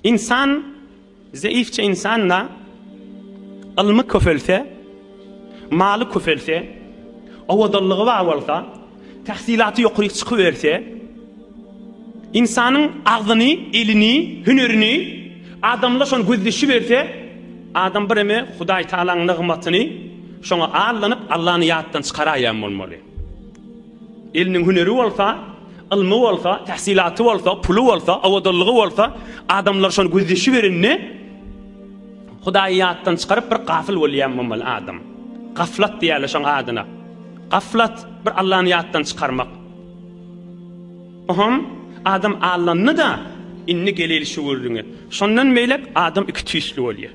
Ynsan, zeýifçe ynsan-da, ylmy köpelse, maly köpelse, owadanlygy bar bolsa, tahsylaty ýokaryk çykyberse, ynsanyň agzyny, elini, hünerini adamlar şony gözleşiberse, adam bireme Hudaýtagalaň nygmatyny şoňa allanyp, Allany ýatdan çykaraýan bolmaly. Eliniň hüneri bolsa, ylmy bolsa, tähsilaty bolsa, puly bolsa, owadanlygy bolsa, adamlar şony gözleşiberende Hudaýy ýatdan çykaryp bir gafyl bolýan bolmaly adam. Gaflat diýýärler şoň adyna. Gaflat bir Allany ýatdan çykarmak. Oham adam allandy-da, indi geleýli şu gürrüňe. Şondan beýläk adam iki tüýsli bolýar.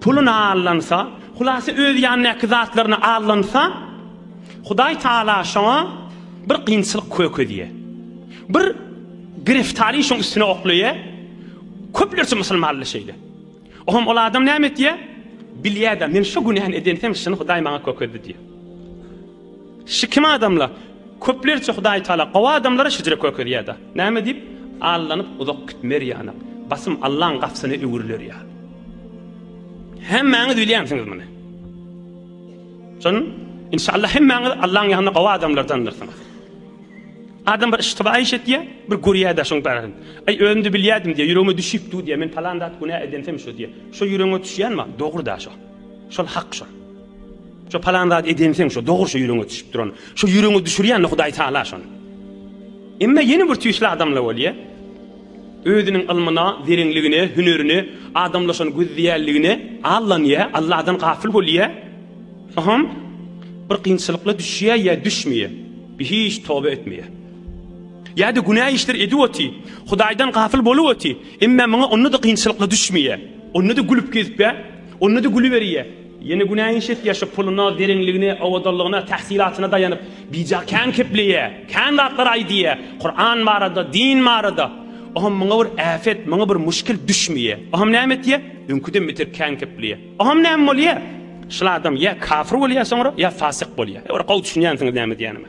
Pulyny aldansa, hulasa öz ýanyndaky zatlaryny aldansa, Hudaý Taala şoňa bir kynçylyk kökezýär. Bir gireftari şoň üstüne oklaýar. Köplerçe musulmanlar şeýle. Oňam ol adam näme etýär? Bilýär-de, men şu günäni edensem, şuny Hudaý maňa kökezdi diýýär. Şu kim adamla? Köplerçe Hudaý Taala gowy adamlara şejere körkezýärda. Näme diýip, allanyp uzak gitmer ýanak, basym Allaň gapysyna öwrüler ýaly. Hemmäňiz bilýänsiňiz muny. Şon, inşallah hemmäňiz Allaň ýanynda gowy adamlardandyrsyňyz. Adam bir iştiba iş etýär, bir görýär-de şoň barasyn. Aý, özümde bilýärdim diýär, ýüregime düşüp dur diýär, men palan zat günä edensem şu diýär. Şo ýüregiňe düşýänmi? Dogry-da şo. Şol hak şo. Şo palan zat eden sen şo dogry şo ýüreňe düşüp duran. Şo ýüreňe düşürýän Hudaý Taala şony. Emma ýene bir tüýsli adamla bolýa. Özüniň ylmyna, zerenligine, hünerine, adamla şony gözleýänligine allanýa, Allahdan gafyl bolýa. Soham bir kynçylykla düşýä ýa düşmeýä. Bi hiç toba etmeýä. Ýa-da günä işler edip oty, Hudaýdan gafyl bolup oty, emma muňa onda-da kynçylykla düşmeýä. Onda-da gülüp gezip ýa, onda-da güli berýä. Ýene günä iş etýär, şu puluna, zerenligine, owadanlygyna, tahsylatyna daýanyp, bija kän kepleýär, kän zatlar aýdýar, Kuran barada, din barada. Oňam muňa bir äpet, muňa bir muşkil düşmeýär. Oňam näme etýär? Öňküden beter kän kepleýär. Oňam näme bolýar? Şul adam ýa kafir bolýar soňra, ýa fasyk bolýar. Ýa bir gowy düşünýänsiňiz näme diýenime.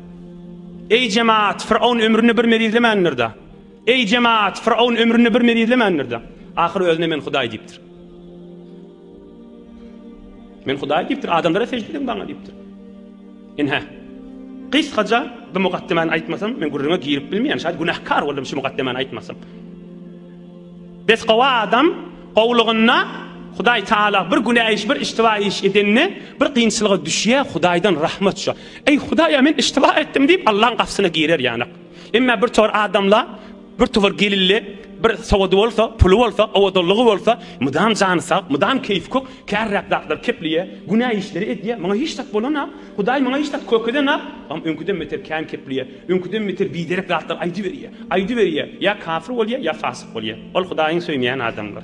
Eý jemaat, Firavun ömründe bir mez izlemändir-de. Eý jemaat, Firavun ömründe bir mez izlemändir-de. Ahyr özüne men Hudaý diýipdir. Men Hudaý diýipdir, adamlara sežde ediň maňa diýipdir. Inha. Gysgaça bu mukaddemany aýtmasam, men gürrüňe girip bilmeýän, şaýat günäkar boldum şu mukaddemany aýtmasam. Biz gowy adam gowlugynda Hudaý Taala bir günä iş, bir iştiwa iş edende bir kynçylyga düşýär, Hudaýdan rahmat şu. Eý Hudaýa men iştiba etdim diýip Allaň gapysyna girer ýanyk. Emma bir tor adamla bir tor gelinli bir sowady bolsa, puly bolsa, owadanlygy bolsa, mydam jany sag, mydam keýfi kök, kärräk zatlar keplýä, günä işleri edýä, maňa hiç zat bolanok, Hudaý maňa hiç zat kök edenok, am öňküden beter kän keplýä, öňküden beter biderek zatlar aýdyberýä, aýdyberýä, ýa kafir bolýa, ýa fasyk bolýa. Ol Hudaýyň söýmeýän adamdyr.